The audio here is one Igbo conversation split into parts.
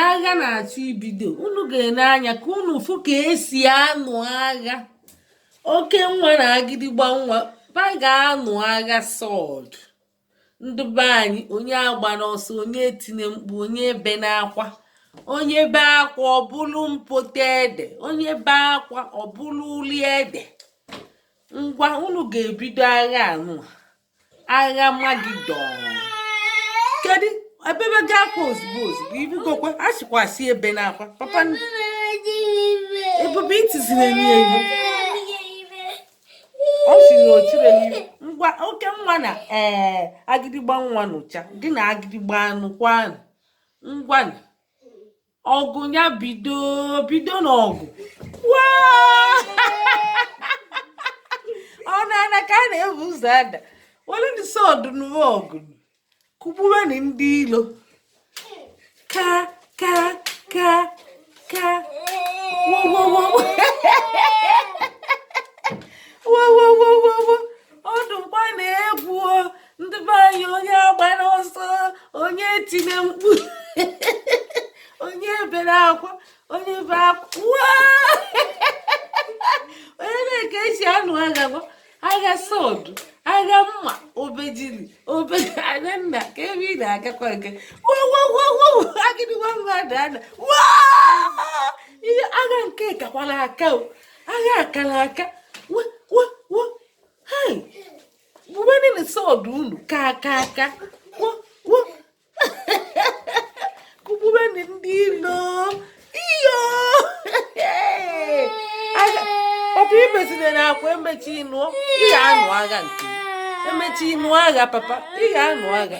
agha na-achọ ibido unu ga-ene anya ka unu fụ ka e si anụ agha oke nwa na agịdịgba nwa ba ga-anụ agha sword ndị be anyị onye agbana ọsọ onye etine mkpu onye ebena akwa onye be akwa ọ bụlụ mpoto ede onye be akwa ọ bụlụ uli ede ngwa unu ga-ebido agha anụ agha amagedọn kedu ebebe gị akwa ozugbo ozugbo ibugokwe a sịkwa sị ebena akwa papa ebube itiziri enyi enyi ọ si na o chiri enyi ngwa oke nwa na ee agịdịgba nwa nụcha gị na agịdịgba anụ kwa anụ ngwanụ ọgụ ya bido bido n'ọgụ ọ na-ana ka a na-ebu ụzọ ada were ndị sword n'ụwa ọgụ kụgbuwenị ndị ilo ka ka ka ka wowowowowowowowowo ọdụ mgba na-egwu ndị be anyị onye agbana ọsọ onye etine mkpu onye ebena akwa onye be akwa onye nee ka e si anụ agha gwa agha sword agha mma obejiri obegara nna ka ebe ị na-agakwa nke wowowowo agịdị nwa mmadụ ana ihe agha nke kakwara aka agha akara aka gbuwenụ sword unu ka ka ka kụgbuwenụ ndị ilo iyo ọbụ imezina na akwa emechi ịnụ ị ga-anụ agha nke emechi ịnụ agha papa ị ga-anụ agha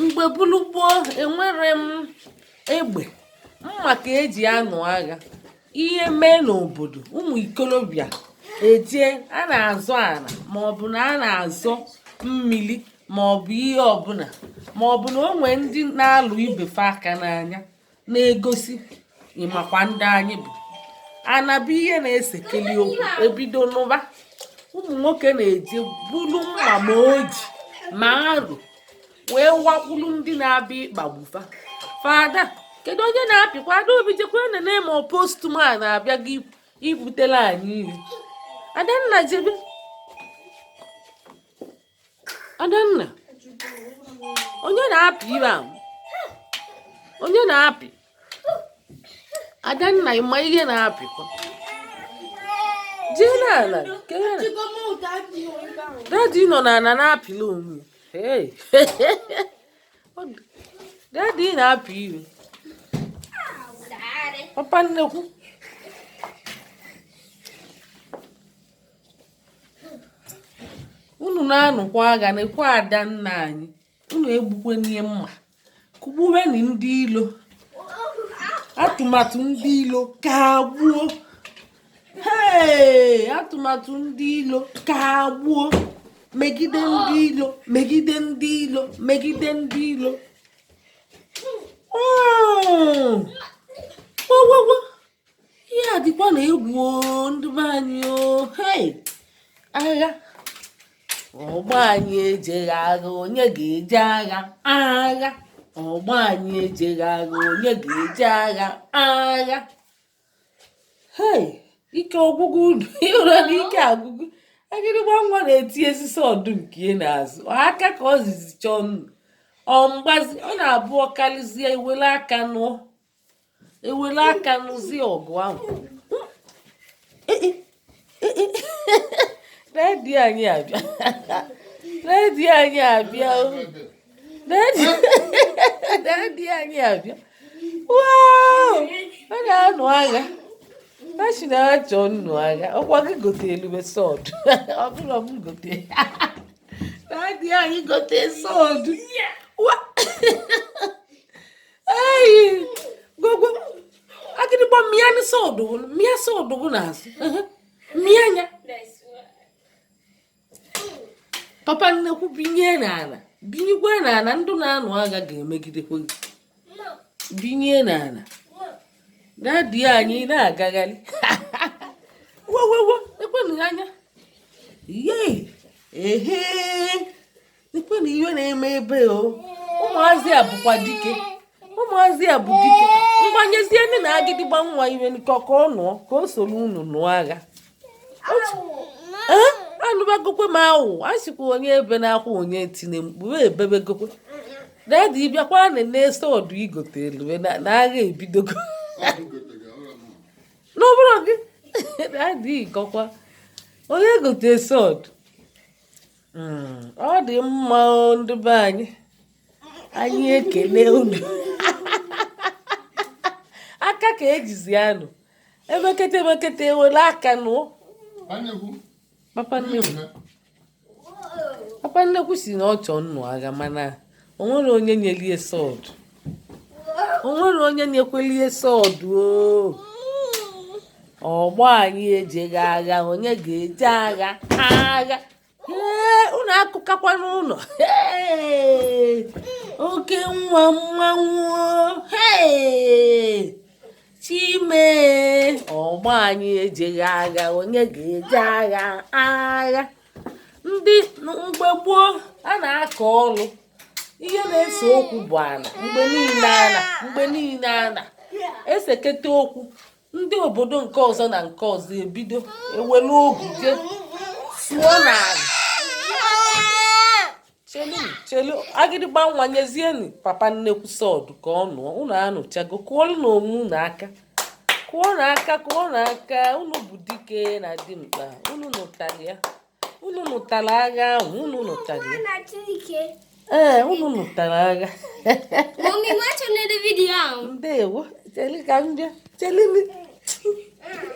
mgbe bụlụ gboo enwerọ egbe mma ka e ji anụ agha ihe mee n'obodo ụmụ ikolobịa eje a na-azọ ana maọbụ na a na-azọ mmiri maọbụ ihe ọbụla maọbụ na o nwe ndị na-alụ ibe fa aka n'anya na-egosi ị makwa ndị anyị bụ ana bụ ihe na-esekeli okwu ebido n'ụba ụmụ nwoke na-eje bulu mma ma oji ma arụ wee wakwulu ndị na-abịa ịkpagbu fa fada kedu onye na-apịkwa adaobi jekwa nene ma ọ postman na-abịa gị ibutela anyị iri adanna jebe Adanna onye na-apị ibe ahụ onye na-apị Adanna ịma ihe na-apịkwa jee n'ala dadi nọ n'ala na-apịla onwe dadi na-apị iwe papa nnekwu unu na-anụkwa agha na-ekwe Adanna anyị unu egbukwe n'ihe mma kụgbuweni ndị ilo atụmatụ ndị ilo ka gbuo ee atụmatụ ndị ilo ka gbuo megide ndị ilo megide ndị ilo megide ndị ilo oh! ihe a dịkwanụ egwu ndị be anyị o hei agha ọgbọ anyị ejeghị agha onye ga-eje agha agha ọgbọ anyị ejeghị agha onye ga-eje agha agha hei ike ọgwụgwụ unu ị hụrụ na ike agwụgo agịdịgba nwa na-etiezi sọdụ nke ya n'azụ aka ka o jizi chọọ ịnụ ọ mgbazi ọ na-abụ ọ karịzie e were aka nụọ e were aka nụzie ọgụ ahụ dadi anyị abịa dadi anyị abịa dadi anyị abịa ọ na-anụ agha a sị na-achọ ịnụ agha ọ kwa gị gotelu m sọd ọ bụrụ m gote dadi anyị gote sọd Hey, go go. Agịdịgba mịanụ sọdụ gị, mịa sọdụ gị n'azụ. Ehe, Mịa ya. Papa nnekwu binye n'ala. Binyekwa n'ala ndị na-anụ agha ga-emegidekwa gị. Binye n'ala. Dadi anyị na-agagharị. Wo wo wo, lekwenụ ya anya. Yee. Ehe. lekwenụ ihe na-eme ebe o ụmụazị a bụkwa dike ụmụazị a bụ dike mgbanyezie ndị na agịdịgba nwa iwe nkọ ka ọ nụọ ka o soro unu nụọ agha anụbagokwe m awụ a sịkwa onye ebe na-akwa onye tinye mkpu wee ebebegokwe dadi bịakwa nee sọdụ ị gotelu na agha ebidogo na ọ bụrụ gị dadi ị kọkwa onye gote sọdụ hmm, ọ dị mma ndị be anyị anyị ekele unu aka ka ejizi anụ emekete emekete ewele aka nụọ papa nnekwu sị na ọ chọọ ịnụ agha mana o nwere onye nyelie sword o nwere onye nyekwelie sword ọgbọ anyị ejeghị agha onye ga-eje agha agha ee unu akụkakwana ụnọ oke nwa mmanwụ ee chime ọgbọ anyị ejeghị agha onye ga-eje agha agha ndị mgbe gboo a na-akọ ọlụ ihe na-ese okwu bụ ana mgbe niile ana mgbe niile ana eseketa okwu ndị obodo nke ọzọ na nke ọzọ ebido ewelu ogu je sụọ n'ana chelu chelu agịdịgba nwa nyezienụ papa nnekwu sword ka ọ nụọ unu anụchago kụọlụnụ onwe unu aka kụọnụ aka kụọnụ aka unu bụ dike na dimkpa unu nụtara ya unu nụtara agha ahụ unu nụtara ya ee unu nụtara agha ndewo chelu ka m bịa chelu